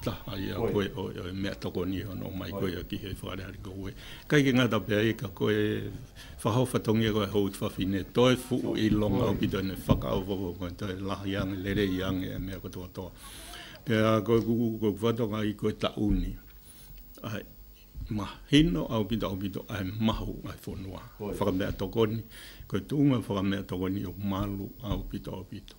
Ta, a ia koe, oi, oi, mea tokoni ano mai koe ia ki hei whakarehare ko koe. Kai ke ngata pea e ka koe, whahawhatongia koe hou te whawhine, toi fuu i longa hoki toi nei, whakao foko koe toi lahi ange, rere i ange e mea katoa toa. Pea koe kuku koe kuwhatonga i koe ta uni, ai, ma hino au ki ta opito, ai mahu, ai fonua, whakamea tokoni, koe tunga whakamea tokoni o malu au ki ta opito.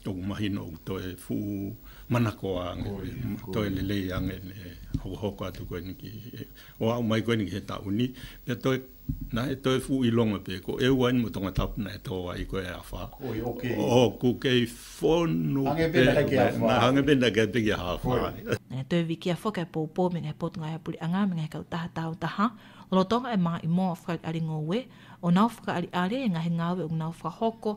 Tōku mahi nōku toi fū manako a ngene, toi lelei a ngene, hokohoko atu koe niki. O au mai koe niki he tauni, pia toi, na e toi fū i longa pē, ko e uain mo tonga tapuna e tō ai koe e a wha. Koi o kei. O ku kei whonu. Hange pēnā kai ki a wha. Na hange pēnā kai pē ki a wha. Ngā toi wiki a wha kai pōpō me ngā pōtunga e puri anga me ngā kau taha tāu taha. Lotonga e mā i mō a whakaari aringa o we, o nāu whakaari are e ngā he ngāwe o nāu whakahoko,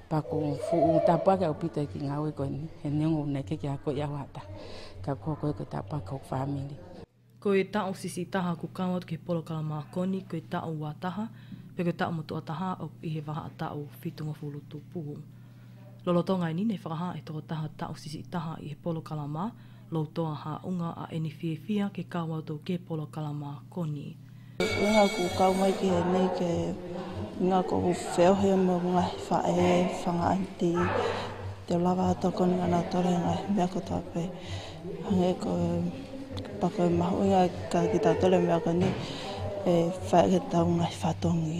Pa ko fu u ta pa ka pita ki nga we ko he nengo ne ke kia ko ia wata. Ka ko ko ko ta pa ko family. Ko e ta o sisi taha ko ka watu ke polo ka ma koni ko e ta o wa taha pe ko ta o moto ataha o i he waha ta o fitu nga fulu tu puhu. Lolo to ngai ni ne whakaha e toko taha ta o sisi taha i he polo ka la ma lo to a ha unga a eni fie fia ke ka watu ke polo ka la ma koni. Ehara ko ka mai ki he nei ke nga ko wheo he mo nga fa e fa nga anti te lava to ko nga na to nga me ko ta pe hange ko pa ko ma ho nga ka ki ta to le me ko ni e fa ke ta nga fa to ngi.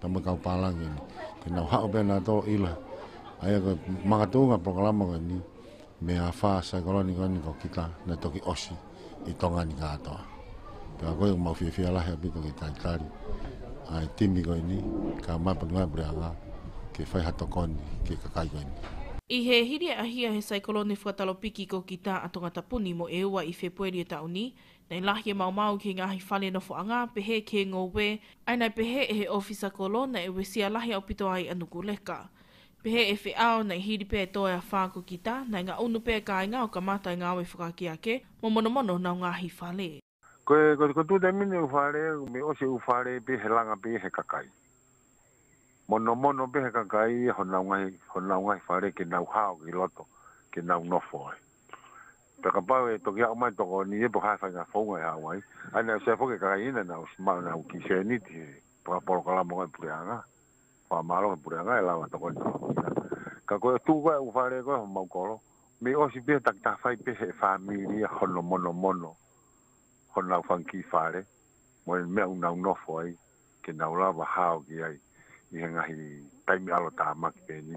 Tama kau pālangi ni. Tēnā hao pia nā tō ila. Ai ako mangatū ngā programa koe ni. Me a whā saikoroni koe ni ko kita nā toki osi i tonga ni kātoa. Pia koe ko mau whiawhia lahi a pito ki tai tari. Ai timi koe ni, kā mai pani mai prea ngā ke whai hato koe ni, ke kakai koe ni. I he hiri a hia he saikoroni whakatalo piki ko kita a Tongata Puni mo e ua i Whēpueri o tauni, Nei lahi e maumau ki ngahi whare nofo a Ngapehe, ke ngo we, ai nai Pehe e he ofisa ko lona e we sia lahi au pito ai a nuku leka. Pehe e whe ao, nei hiri pea e toe a wha ko ki ta, nai nga unu pea kainga o ka matai nga we whakaki ake, mo monomono nau ngahi whare. Ko e, ko tu te mine u whare, me ose u whare pe he langa pe he kakai. Monomono pe he kakai, ho nau ngahi, ho nau ngahi whare ke nau hao ki loto, ke nau nofo ai. Whakapau e toki ako mai toko ni e pokai whai nga whaunga e Hawaii, ai nau sea whoke ka kai ina nau si mauna au ki sea ni ti he whakaporo ka lamo ngai pure anga, wha malo ngai pure anga e lawa toko i toko ki na. Ka koe o tu koe u whare koe ho mau koro, mi o si pia tak ta whai pe he wha mi ni a hono mono mono ho nau whang ki whare, mo e mea u nau no fo ai, ke nau lawa hao ki ai, i he ngahi taimi alo ta maki pe ni.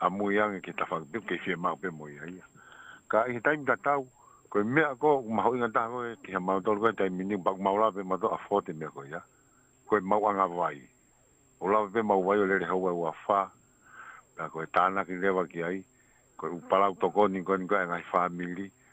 a Muiangi ki Tawhakapiki kei whia māku pemo i a ia. Ka i he taimi ka tau, ko i mea ko ma hoi nga taha koe ki he mau tolu kai tai mini bak mau la pe ma to a fo te mea ko ia ko i mau anga vai o la pe mau vai o le ho vai wa fa pe ko e tana ki le wa ki ai ko u pala u toko ni ko ni ko nga family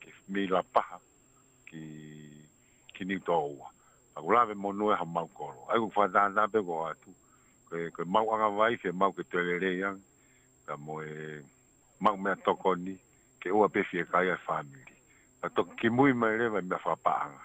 Ke Mila paha ki ki Niu Taoua. A ko lawe mo noe ha mau koro. Ai ko wha da da be go atu. Ke ke mau anga vai ke mau ke tele re yang. Ka mo e mau mea tokoni ke ua be fie kai ai wha miri. Ka toki ki mui mai re vai mea wha pa anga.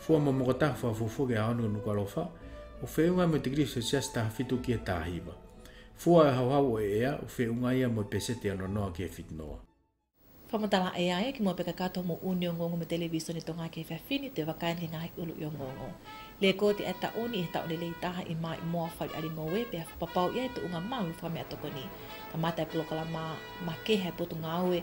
Fua mo moka taha wha fo foge a anu nuka ro wha, o fe unga mo te giri se sias taha fitu ki e tahi wa. Fua e hau hau o e ea, o fe unga ia mo pe sete ano noa ki e fit noa. Wha mo taha e aia ki mo peka katoa mo uni o ngongo mo te levi soni to nga ki e wha fini te wa kain ki nga hi ulu i o ngongo. Le ko te a ta uni he tau lelei taha i ma i moa wha i ari ngo we pea wha papau ia i to unga mahu wha me a tokoni. Ka matai polokala ma, ma ke he potu nga we,